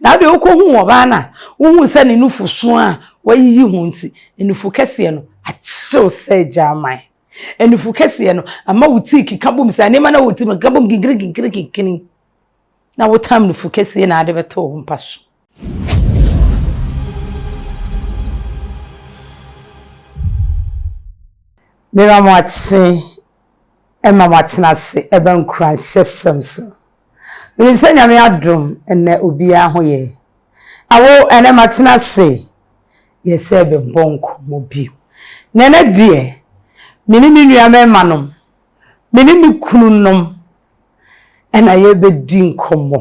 Na afei wokohuu ɔbaa no a wohuu sɛ ne nufusu a wɔayiyi ho nti, nufu kɛseɛ no ahyew sɛ gyaman. Nufu kɛseɛ no ama wo ti rekeka bom sɛ nneɛma no a ɛwɔ wo tirim no rekeka bom kinkirinkirinkiri, na wotam nufu kɛseɛ na wode bɛto wo mpa so. Miriam Akyekye ma wɔatena ase ba nkuranhyɛsɛm so. Menim sɛ Nyame adom nnɛ obiara ho yɛ. Awo, ɛnnɛ matena ase yɛ sɛ bɛbɔ nkɔmmɔ bio. Na ɛnnɛ deɛ, me ne me nuammarima nom, me ne me kunu nom na yɛrebɛdi nkɔmmɔ.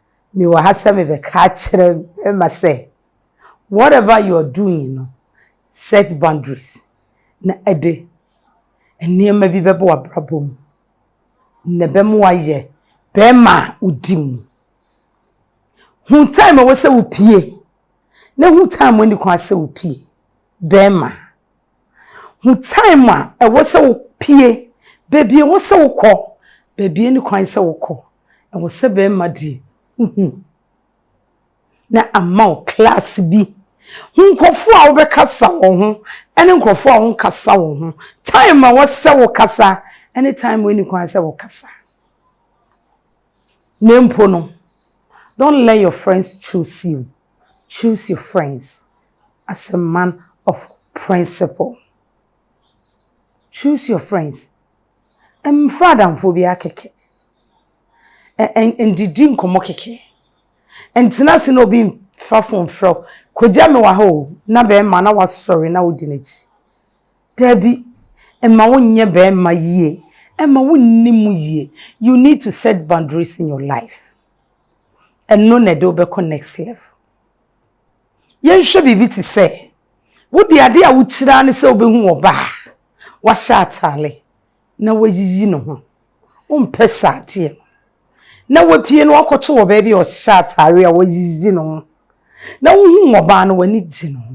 Mewɔ ha sɛ mebɛka akyerɛ mmarima sɛ, whatever you are doing no, set boundaries na ɛde nneɛma bi bɛba w'abrabɔ mu na ɛbɛma wayɛ bɛrima a wodi mu. Hu time a ɛwɔ sɛ wopie na hu time a ɛnni kwan sɛ wopie. Bɛrima. Hu time a ɛwɔ sɛ wo pie, baabi a ɛwɔ sɛ wo kɔ, baabi a ɛni kwan sɛ wo kɔ. Ɛwɔ sɛ bɛɛma deɛ wo hu. Na ama wo class bi. Hu nkorɔfoɔ a wo bɛ kasa wɔ ho, ɛne nkorɔfoɔ a wo nkasa wɔ ho. Time a ɛwɔ sɛ wo kasa, ɛne time a ɛni kwan sɛ wo kasa. Na mpo no, don't let your friends choose you. Choose your friends as a man of principle. Choose your friends. Mmfa adamfoɔ biara kɛkɛ. Ndidi nkɔmmɔ kɛkɛ. Ntena ase na obi mfa fon mfrɛ wo. Kogya me wɔ ha o, na barima na wasɔre na wodi n'akyi. Daabi, ɛmma wonyɛ barima yie, ɛmma wonni mu yie. You need to set boundaries in your life. Ɛno na ɛde wo bɛkɔ next level. Yɛnhwɛ biribi te sɛ, wo deɛ adeɛ a wokyiri ara ne sɛ wobɛhu ɔbaa a wahyɛ ataare na wayiyi ne ho. Wompɛ saa adeɛ no. Na wapue na wakɔto wɔ baabi a ɔhyɛ ataare a wayiyi ne ho. Na wohu ɔbaa no, w'ani gye ne ho.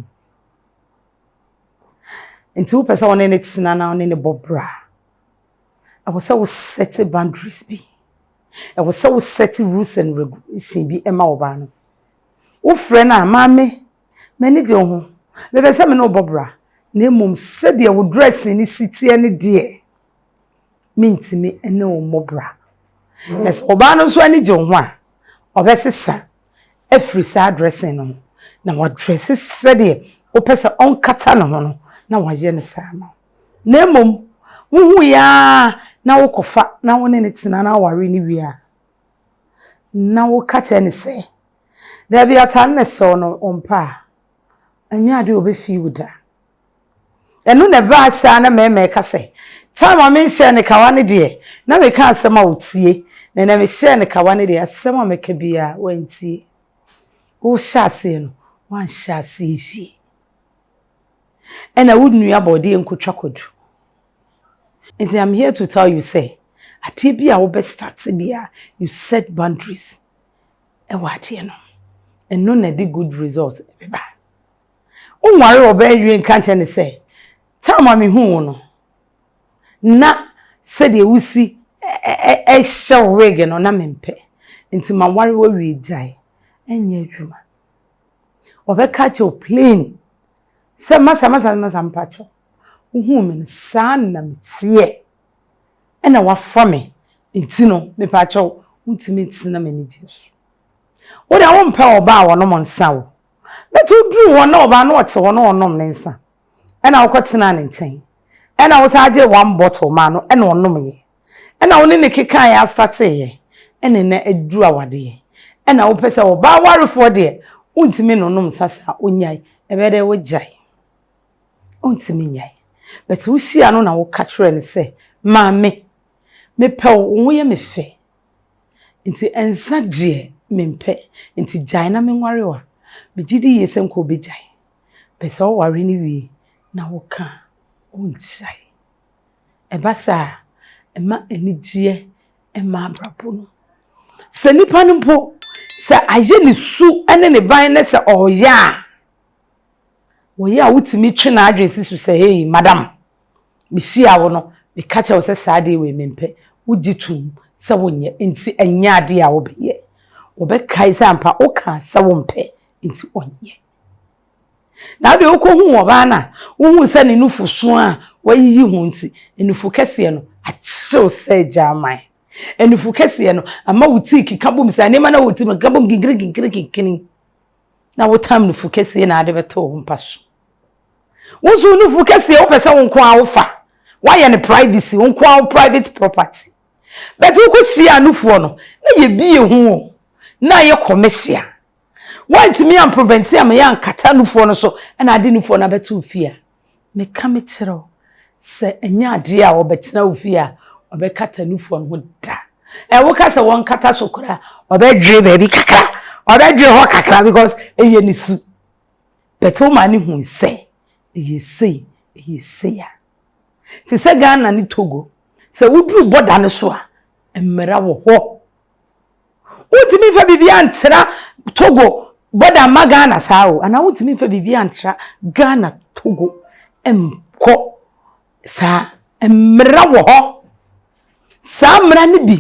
Nti wopɛ sɛ wo ne no tena na wo ne no bɔ bra. Ɛwɔ sɛ wo set boundaries bi. Ɛwɔ sɛ wo set rules and regulation bi ma wo ba no. Wo frɛ no a, maame, m'ani gye wo ho, mepɛ sɛ me ne wo bɔ bra, na mmom sɛdeɛ wo dressing no si teɛ no deɛ, mentumi ne wo mmɔ bra. Na sɛ ɔbaa no nso ani gye wo ho a, ɔbɛsesa afiri saa dressing no ho, na wadrɛse sɛdeɛ wopɛ sɛ ɔnkata ne ho no, na wayɛ no saa ma wo. na mmom wohui ara na wokɔfa na wo ne no tena na aware no wie a, na woka kyerɛ no sɛ, Dabi, atade na ɛhyɛw no wo mpa a, ɛnyɛ ade a obefi wo da. Ɛno na ɛbaa saa na mmarima ɛka sɛ, Time a menhyɛɛ no kawa no deɛ, na meka asɛm a ɔtie, na ɛnɛ mehyɛɛ no kawa no deɛ, asɛm a meka biara wantie. Wohyɛ aseɛ no, woanhyɛ aseɛ yie. ɛna wo nua bɔɔdeɛ nkɔtwa kwadu. Nti I'm here to tell you sɛ, adeɛ bi a wobɛ start biara, you set boundaries ɛwɔ adeɛ no. Ɛno na ɛde good result ɛbɛba. Wonware ɔbaa awie nka nkyɛ ne sɛ, time a mehu wo no, na sɛdeɛ wosi ɛhyɛ wig no na mempɛ. Nti maware wawie gyae, ɛnyɛ adwuma. Ɔbɛka akyerɛ wo plain sɛ, Masa, masa, masa, mpakyɛw, wohuu me no, saa na meteɛ. Ɛna wafa me, nti no, mepakyɛw, wontumi ntena m'anigyeɛ so. Wo deɛ wompɛ ɔbaa a ɔnom nsa o, but woduru hɔ na ɔbaa no ɔte hɔ na ɔnom ne nsa a, ɛna wokɔ tenaa ne nkyɛn, ɛna wo san gyee one bottle maa no ɛna ɔnom yɛ, ɛna wo ne ne kekaa yɛ astate yɛ, ɛna ɛnɛ aduru awade yɛ, ɛna wo pɛ sɛ ɔbaa warefoɔ deɛ wontumi no nom nsa saa onyae, ɛbɛyɛ dɛ wo gyae, wontumi nyae, bɛte wo hyia no na wo ka kyerɛ no sɛ maame me pɛ wo, wo ho yɛ me fɛ, nti nsa deɛ me mpɛ, nti gyae na me nware wo a, me gyidi yie sɛ nka ɔbɛgyae. Pɛ sɛ ɔware no wie na woka a, wonhyia he. Ɛba saa a, ɛma anigyeɛ mma abrabɔ mu. Sɛ nnipa no mpo, sɛ ayɛ ne su ne ne ban ne sɛ ɔɔyɛ a, ɔyɛ a wotumi twe n'adwene si so sɛ, Hei, madam, mehyia wo no, meka kyerɛ wo sɛ saa adeɛ wei mempɛ. Wogye tom sɛ wonyɛ, nti ɛnyɛ adeɛ a wobɛyɛ. Wɔbɛkae sɛ ampa wokaa sɛ wompɛ, nti ɔnyɛ. Na afei wokohuu ɔbaa no a, wohuu sɛ ne nufusu a wɔayiyi ho nti, nufu kɛseɛ no akyew sɛ gyaman. Nufu kɛseɛ no ama wo ti keka bom sɛ nneɛma no a wɔti no keka bom kinkirinkinkirinkinkini. Na wotam nufu kɛseɛ na ade bɛtɔ wo mpa so. Wo nso wo nufu kɛseɛ wopɛ sɛ wo nko ara wofa. Woayɛ no privacy, wo nko ara wo private property. But wokɔhyiaa nufoɔ no, na yɛbie ho o, na ayɛ commercial. Woantumi amprevɛnte a meyɛ ankata nufoɔ no so na ade nufoɔ no abɛto wo fie a, meka mekyerɛ wo sɛ ɛnyɛ adeɛ a ɔbɛtena wo fie a ɔbɛkata nufoɔ no ho da. Ɛ woka sɛ wɔnkata so koraa ɔbɛdwe baabi kakra, ɔbɛdwe hɔ kakra because ɛyɛ ne su. But wo maa ne hui sɛ ɛyɛ sei, ɛyɛ sei a. Te sɛ Ghana ne Togo, sɛ woduru bɔda no so a, mmara wɔ hɔ Wontumi mfa biribiara ntra Togo bɔda mma Ghana saa o, anaa wontumi mfa biribiara ntra Ghana Togo nkɔ saa. Mmara wɔ hɔ. Saa mmara no bi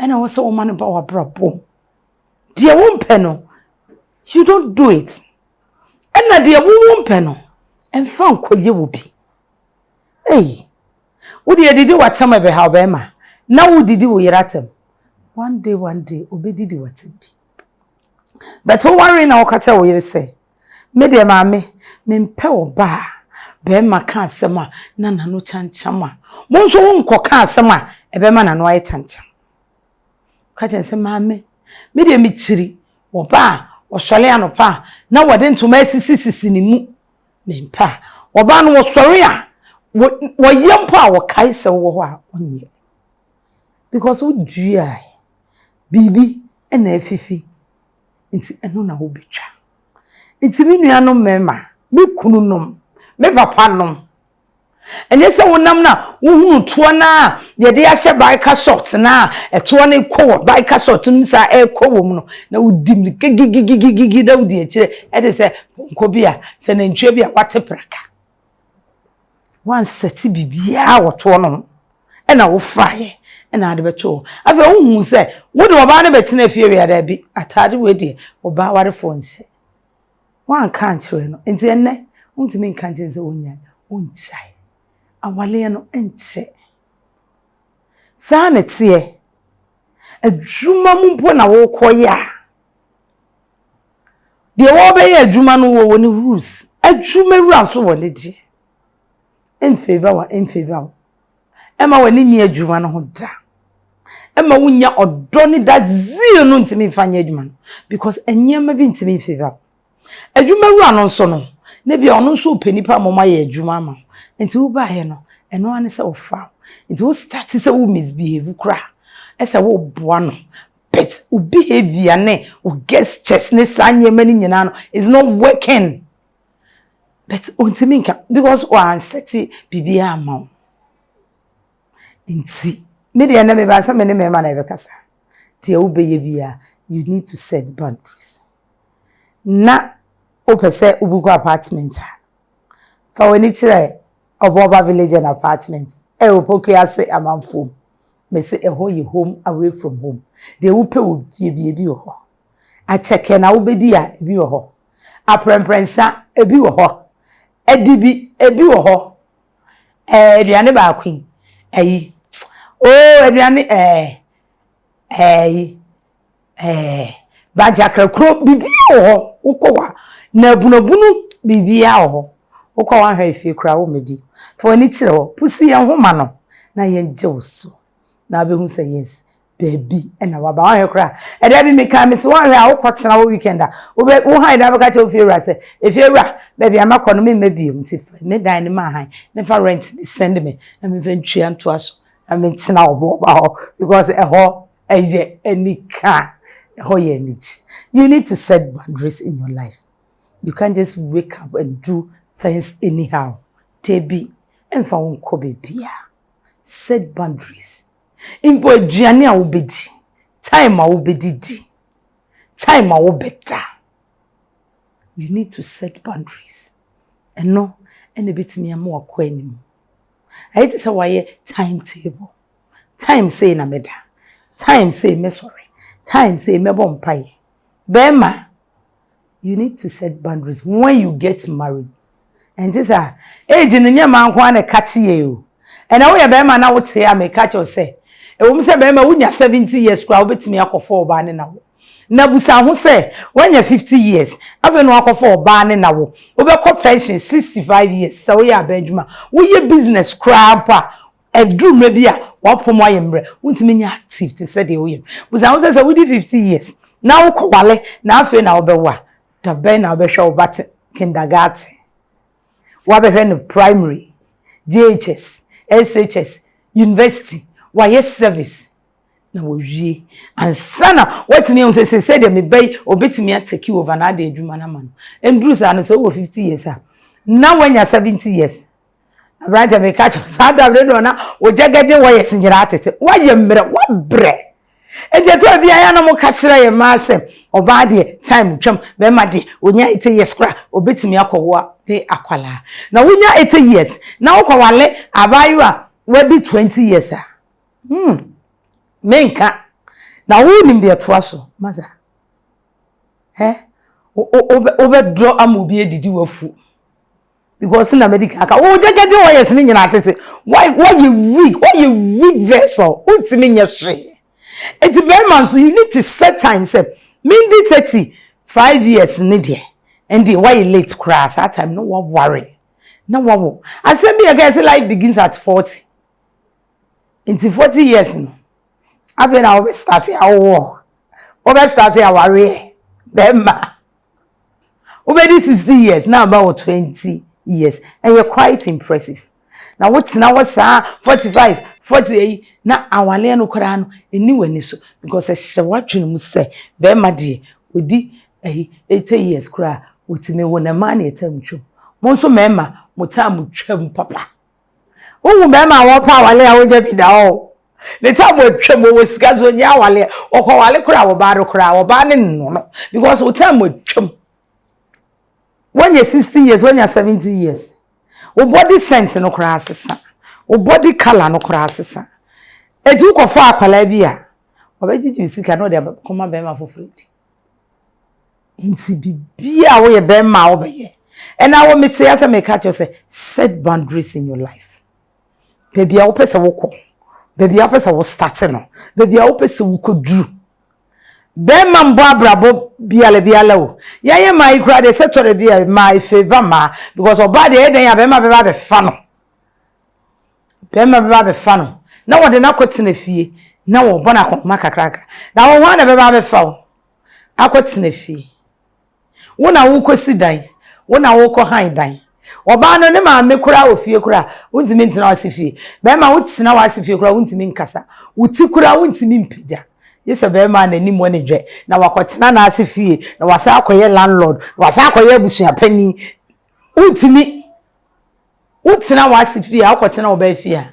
ɛna ɛwɔ sɛ wɔma no ba w'abrabɔ mu. Deɛ wompɛ no, you don't do it. Ɛna deɛ wowɔ mpɛ no, mfa nkɔyɛ wo bi. Ei! Wo deɛ didi w'atam ɛbɛhaw bɛɛma na wo didi wo yere atam one day one day obedidi w'atam bi but wo ware na woka kyerɛ wo yere sɛ me deɛ maame mempɛ ɔbaa bɛɛma ka asɛm a na nano kyankyam a mo nso wo nkɔ ka asɛm a ɛbɛma nano ayɛ kyankyam ka kyerɛ sɛ maame me deɛ mekyiri ɔbaa ɔsɔre anɔpa a na wɔde ntoma asisisisi ne mu Mempɛ a. Wɔbaa no, wɔsɔre a, wɔ, wɔyɛ mpo a, wɔkae sɛ wowɔ hɔ a, wonyɛ. Because woduae. Biribi na afifi. Nti ɛno na wobɛtwa. Nti me nuanom mmarima, me kununom, me papanom, Ɛnyɛ sɛ wonam no a wohunu toɔ no a yɛde ahyɛ biker shorts no a ɛtoɔ no kɔ wɔ biker shorts no mu saa ɛrekɔ wɔ mu no na wodi mu gigigigigigi na wodi akyire ɛde sɛ pɔnkɔ bi a sɛ nantwie bi a wate praka. Wansɛte biribiara wɔ toɔ no ho ɛna wofaeɛ ɛna ade bɛto hɔ. Afei wohuu sɛ wode ɔbaa no bɛtena fie wei a daabi ataade wei deɛ ɔbaa warefoɔ nhyɛ. Woanka ankyerɛ no. Nti ɛnnɛ wontumi nka nkyerɛ no sɛ ɔnyae. Ɔngyae. Awaleɛ no nkyɛ. Saa na ɛteɛ. Adwuma mu mpo na wokɔyɛ a, deɛ wɔbɛyɛ adwuma no wɔ ne rules. Adwuma wura nso wɔ ne deɛ. Ɛnfeeva wo a, ɛnfeeva wo. Ɛmma w'ani nnye adwuma no ho da. Ɛmma wonnya ɔdɔ ne that zeal no ntumi mfa nyɛ adwuma no because nneɛma bi ntumi mfever wo. Adwuma wura no nso no, na bi a ɔno nso ɔpɛ nipa ma ɔma yɛ adwuma ama wo. Nti wobaeɛ no, ɛno ara ne sɛ ɔfa wo. Nti wo start sɛ wo misbehave koraa ɛsɛ woboa no but wo behavior ne wo gestures ne saa nneɛma no nyinaa no is not working. but ontumi nka because wɔansɛte biribiara amma wo. Nti me deɛ nnɛ meba sɛ me ne mmarima na yɛbɛkasa. Deɛ wobɛyɛ biara you need to set boundaries. Na wopɛ sɛ wobukɔ apartment a, fa w'ani kyerɛ Ɔbɔba Village and Apartment ɛwɔ Opoku ase amanfoɔ mu. Mese ɛhɔ yɛ home away from home. Deɛ wopɛ wɔ fie biara ebi wɔ hɔ. Akyɛkɛ na wobɛdi a, ɛbi wɔ hɔ. Aprɛnprɛnsa, ɛbi wɔ hɔ. Adibi, ɛbi wɔ hɔ. Ɛɛ, aduane baako yi, ayi. Oo, aduane, ɛɛ, ɛɛyi, ɛɛ, bagyakrakuro, biribiara wɔ hɔ. Wokɔ hɔ a, nabunabunu, biribiara wɔ hɔ. Wokɔ hɔ ahwɛ efie koraa, womma bi. Fa w'ani kyerɛ hɔ. Pusi yɛn ho ma no na yɛngye wo so. Na wobɛhu sɛ yes, Dabi, ɛna waba. Wanhwɛ koraa. Ɛda bi mekae, mese, woanhwɛ a wokɔtena hɔ weekend a, wobɛ, wo hann daa bɛka kyerɛ wo fiewura sɛ, Efiewura, baabi a mɛkɔ no, meremma bio, nti fa me dan no ma hann, na fa rent no send me, na memfa ntua ntoa so, na mentena wo boba hɔ, because ɛhɔ ɛyɛ anika. Ɛhɔ yɛ anigye. You need to set boundaries in your life. You can't just wake up and do things anyhow. Dabi, ɛmfa wo nkɔ baabiara. Set boundaries. Mpo aduane a wobedi, time a wobedidi, time a wobɛda. You need to set boundaries. Ɛno ɛna ebetumi ama wakɔ anim. Ayɛ te sɛ wayɛ time table. Time sei na mɛda. Time sei mɛsɔre. Time sei mɛbɔ mpaeɛ. Bɛrima, you need to set boundaries when you get married ɛnte sɛ a age no nyɛ mmaa nko ara na ɛka kye yɛn o ɛnna woyɛ barima na wote a meka kyerɛ sɛ ɛwɔ mu sɛ barima wonya seventy years koraa wobɛtumi akɔfa ɔbaa ne na wo na busa ho sɛ woanya fifty years afei na wakɔfa ɔbaa ne na wo wobɛkɔ pension sixty five years sɛ woyɛ abɛn adwuma woyɛ business koraa mpo a Ɛduru mmerɛ bi a, w'apɔm ayɛ mmerɛ, wontumi nyɛ active te sɛ deɛ woyɛ no. Bisa wo ho sɛ, sɛ wodi fifty years na wokɔwale na afei na wobɛwo a, da bɛn na wobɛhwɛ wo ba te kindergarten, woabɛhwɛ no primary, JHS, SHS, university, wayɛ service na wawie ansa na woatumi ahu sɛ seesei deɛ me ba yi ɔbɛtumi a take over na ade adwuma no ama no. Ɛnduru saa no, sɛ wowɔ fifty years a, na woanya seventy years Aberanteɛ meka kyerɛ saa da bere no na ogyagagye wires nyinaa tete wayɛ mmerɛ wabrɛ nti ɛtɔ bi ayɛ na moka kyerɛ yɛ maa sɛ ɔbaa deɛ time twam bɛrima deɛ onya eighty years kora obetumi akɔwoa ne akwalaa na wonya eighty years na wokɔwale abaayewa wadi twenty years a hmm menka na wonim deɛ ɛtoa so masa ɛ wobɛdɔ ama obi adidi wafu. because na mɛdi kan aka wo gyɛgɛgye wɔ yɛs ne nyinaa tete wɔyɛ weak wɔyɛ weak vessel wontumi nyɛ hwee eti bɛrima nso you need to set time sɛ mendi thirty five years ne deɛ ɛnde wɔyɛ late koraa saa time no wɔware na wɔwɔ asɛm bi yɛ kɛ sɛ life begins at forty nti forty years no afei na wɔbɛ start awɔ wɔbɛ start awareɛ bɛrima. Wobɛdi sixty years na aba wɔ twenty years ɛyɛ quite impressive na wotena hɔ saa forty five forty ɛyi na awaleɛ no koraa no ɛnni w'ani so because ɛhyɛ w'adwene mu sɛ bɛrima deɛ ɔdi ɛyi eighty years koraa ɔtumi wo na mmaa na ɛtam twam mo nso mmarima mo time twam papa Wohu bɛrima a wɔpɛ awale a wonya bi da hɔ o. Ne tam atwam, ɔwɔ sika nso ɔnnya awale. Ɔkɔwale koraa a, ɔbaa no koraa, ɔbaa no nnɔ no because wo tam atwam. Woanya 60 years, woanya 70 years. Wo body scent no koraa asesa. Wo body colour no koraa asesa. Enti wokɔfa akwadaa bi a, ɔbɛgyegye wo sika na ɔde akɔma bɛrima foforɔ adi. Nti biribiara a woyɛ bɛrima a wobɛyɛ. Ɛna wo mete asɛ meka kyerɛ sɛ set boundaries in your life. Baabi a wopɛ sɛ wokɔ, baabi a wopɛ sɛ wo start no, baabi a wopɛ sɛ wokɔduru. Bɛrima mbɔ abrabɔ biara biara o. Yɛyɛ mmaa yi koraa deɛ sɛ tɔrɛ bi a mmaa efeeva mmaa because ɔbaa deɛ ɛyɛ dɛn a bɛrima bɛba abɛfa no. Bɛrima bɛba abɛfa no, na wɔde no akɔtena fie, na wɔbɔ no akɔnhoma kakrakra. Na wo, hwan na ɛbɛba abɛfa wo akɔtena fie? Wo na wokɔsi dan, wo na wokɔhan dan. Ɔbaa no, ne maame koraa wɔ fie koraa a, wontumi ntena wo ase fie. Bɛrima, wotena wo ase fie koraa a, wontumi nkasa. Wo ti koraa wontumi mpagya. Gye sɛ bɛrima a n'ani mu ani dwɛ, na wakɔtena n'ase fie, na wasan akɔyɛ landlord, na wasan akɔyɛ abusua panin. Wontumi. Wotena w'ase fie a, wokɔtena wo ba fie a,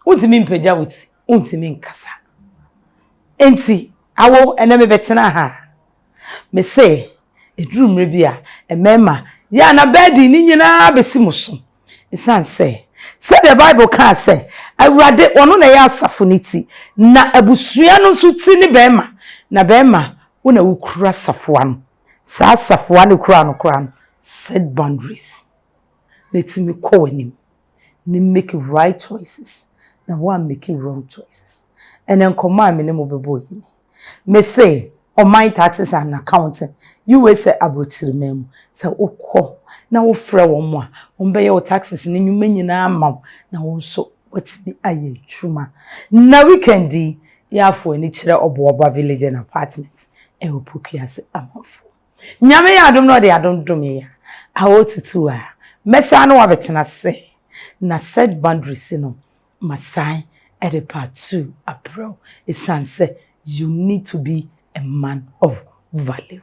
wontumi mpagya wo ti, wontumi nkasa. Enti, awo, ɛnɛ mebɛtena ha. Mese, ɛduru mmerɛ bi a, mmarima, yɛ a na bɛɛden no nyinaa bɛsi mo so. Ɛsiane sɛ, sɛdeɛ Bible kaa sɛ, Awurade, ɔno na ɛyɛ asafo no ti, na abusua no nso ti ne barima, na barima, wo na wokura safoa no. Saa safoa no koraa no koraa no set boundaries na tumi kɔ w'anim na make right choices na woammake wrong choices. Ɛnɛ nkɔmmɔ a me ne mo bɛbɔ yi ni. Mese ɔman taxes and accounting, USA aborɔkyiriman mu, sɛ wokɔ na wofrɛ wɔn a, wɔbɛyɛ wo taxes no nnwuma nyinaa ama wo na wo nso Watumi ayɛ adwuma. Nnɛ weekend yi, Yaafo ani kyerɛ Ɔboaba Village and Apartment wɔ Pokuase Amafo. Nyame yɛ adom na ɔde adom dome yɛn a, awɔw tutuu a, mɛsan ne wo abɛtena ase na set boundaries no, masan de part two abrɛ wo esiane sɛ you need to be a man of value.